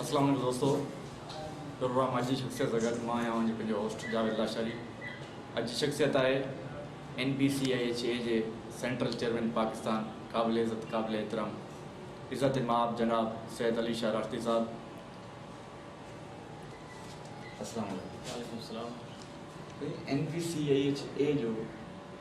اسلام عليڪم دوستو پروگرام اڄ جي شخصيت سان گڏ مان آهيان اوهان جو پنهنجو هوسٽ جاويد لاشاري اڄ جي شخصيت آهي N P C I H A جي سينٽرل چيئرمين پاڪستان قابل عزت قابل احترام عزت ماب جناب سيد علي شاهه راشدي صاحب اسلام عليڪم وعليڪم السلام N P C I H A جو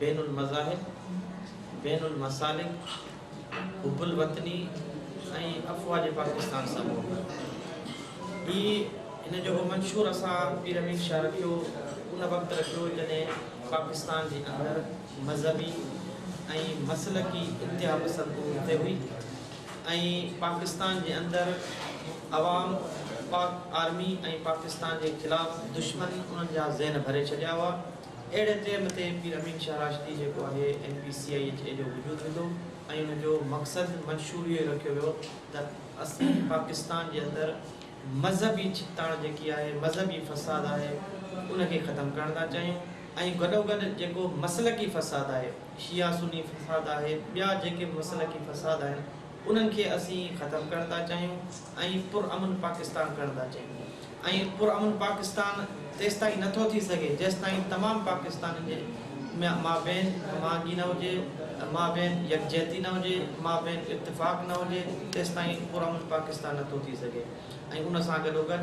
بين المذاهب، بين المسالڪ، حب الوطني ۽ افواج پاڪستان سان محبت هي هن جو هو منشور اسان پير امين شاهه رکيو ان وقت رکيو جڏهن پاڪستان جي اندر مذهبي ۽ مسلڪي انتها پسند عروج تي هئي ۽ پاڪستان جي اندر عوام پاڪ آرمي ۽ پاڪستان جي خلاف دشمن انهن جا ذهن ڀري ڇڏيا هئا. اهڙي ٽيم تي پير امين شاهه راشدي جيڪو آهي N P C I H A جو وجود وڌو ۽ ان جو مقصد منشور اهو ئي رکيو ويو ته اسين پاڪستان جي اندر مذهبي ڇڪتاڻ جيڪي آهي مذهبي فساد آهي ان کي ختم ڪرڻ ٿا چاهيون ۽ گڏوگڏ جيڪو مسلڪي فساد آهي شيعا سني فساد آهي ٻيا جيڪي مسلڪي فساد آهن انهن کي اسين ختم ڪرڻ ٿا چاهيون ۽ پرامن پاڪستان ڪرڻ ٿا چاهيون ۽ پرامن پاڪستان تيستائين نه ٿو ٿي سگهي جيستائين تمام پاڪستانين جي مابين هماهنگي نه هجي مابين يڪجهتي نه هجي مابين اتفاق نه هجي تيستائين پرامن پاڪستان نه ٿو ٿي سگهي ۽ ان سان گڏوگڏ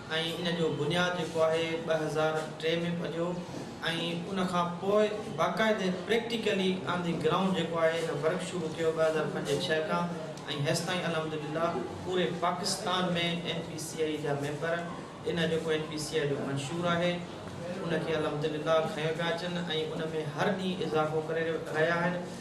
۽ ان جو بنياد جيڪو آهي ٻه هزار ٽي ۾ پڌيو ۽ ان کان پوء باقاعدي پريڪٽيڪلي آن دي گرائونڊ جيڪو آهي هن ورڪ شروع ڪيو ٻه هزار پنج ڇهه کان ۽ هيستائين الحمدلله پوري Pakistan ۾ N P C I جا ميمبر ان جيڪو اين پي سي آئي جو منشور آهي ان کي الحمدلله کنيو پيا اچن ۽ ان ۾ هر ڏينهن اضافو ڪري رهيا آهن.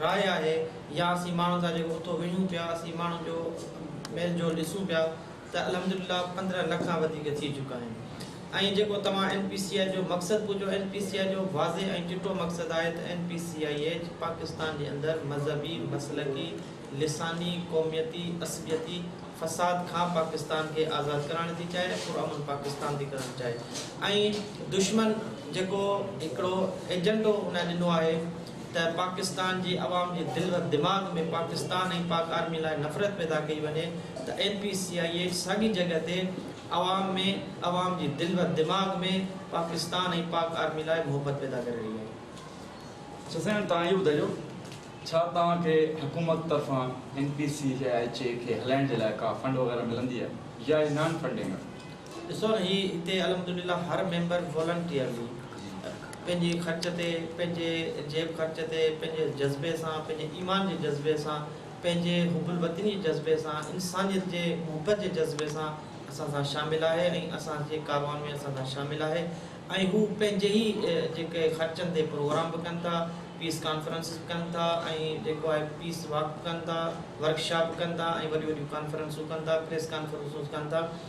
راء آهي يا اسين ماڻهن سان جيڪو اتو وڙهيون پيا اسين ماڻهن جو ميل جول ڏسون پيا ته الحمدلله پندرهن لک کان وڌيڪ ٿي چڪا آهن ۽ جيڪو توهان اين پي سي آء جو مقصد پڇيو اين پي سي آء جو واضح ۽ چٽو مقصد آهي ته N P C I H Pakistan جي اندر مذهبي مسلڪي لساني قوميتي عصبيتي فساد کان پاڪستان کي آزاد ڪرائڻ ٿي چاهي ۽ پرامن پاڪستان ٿي ڪرڻ چاهي ۽ دشمن جيڪو هڪڙو ايجنڊو ان ڏنو آهي ته پاڪستان جي عوام جي دل و دماغ ۾ پاڪستان ۽ پاڪ آرمي لاء نفرت پيدا ڪئي وڃي ته N P C I A ساڳي جڳهه تي عوام ۾ عوام جي دل و دماغ ۾ پاڪستان ۽ پاڪ آرمي لاء محبت پيدا ڪري رهي آهي. سسئن توهان اهو ٻڌايو ڇا توهان کي حڪومت طرفان N P C I A کي هلائڻ جي لاء ڪا فنڊ وغيره ملندي آهي يا هي نان فنڊنگ آهي ڏسو نه هي هتي الحمدلله هر ميمبر والنٽيئرلي پنهنجي خرچ تي پنهنجي جيب خرچ تي پنهنجي جذبي سان پنهنجي ايمان جي جذبي سان پنهنجي حب الوطني جي جذبي سان انسانيت جي محبت جي جذبي سان اسان سان شامل آهي ۽ اسان جي ڪاروان ۾ اسان سان شامل آهي ۽ هو پنهنجي ئي جيڪي خرچن تي پروگرام به ڪن ٿا پيس ڪانفرنسز به ڪن ٿا ۽ جيڪو آهي پيس واڪ به ڪن ٿا ورڪ شاپ به ڪن ٿا ۽ وڏيون وڏيون ڪانفرنسون ڪن ٿا پريس ڪانفرنسون ڪن ٿا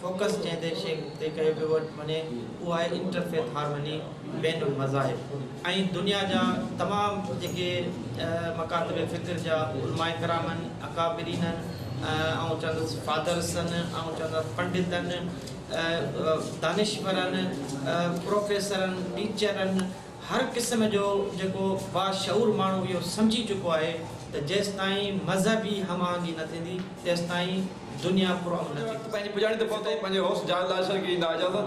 فوڪس جنهن تي شيخ تي ڪيو پيو وڃي اهو آهي انٽر فيٿ هارمني، بين المذاهب ۽ دنيا جا تمام جيڪي مڪاتب فڪر جا علماء ڪرام آهن، اڪابرين آهن، آئون چوندس فادرس آهن، آئون چوندس پنڊت آهن، دانشور آهن، پروفيسر آهن، ٽيچر آهن، هر قسم جو جيڪو باشعور ماڻهو اهو سمجهي چڪو آهي ته جيستائين مذهبي هم آهنگي نه ٿيندي تيستائين دنيا پرامن نه ٿيندي. پنهنجي پڄاڻي تي پهتي پنهنجي هوس جاء لاء شرڪ جي نا اجازت.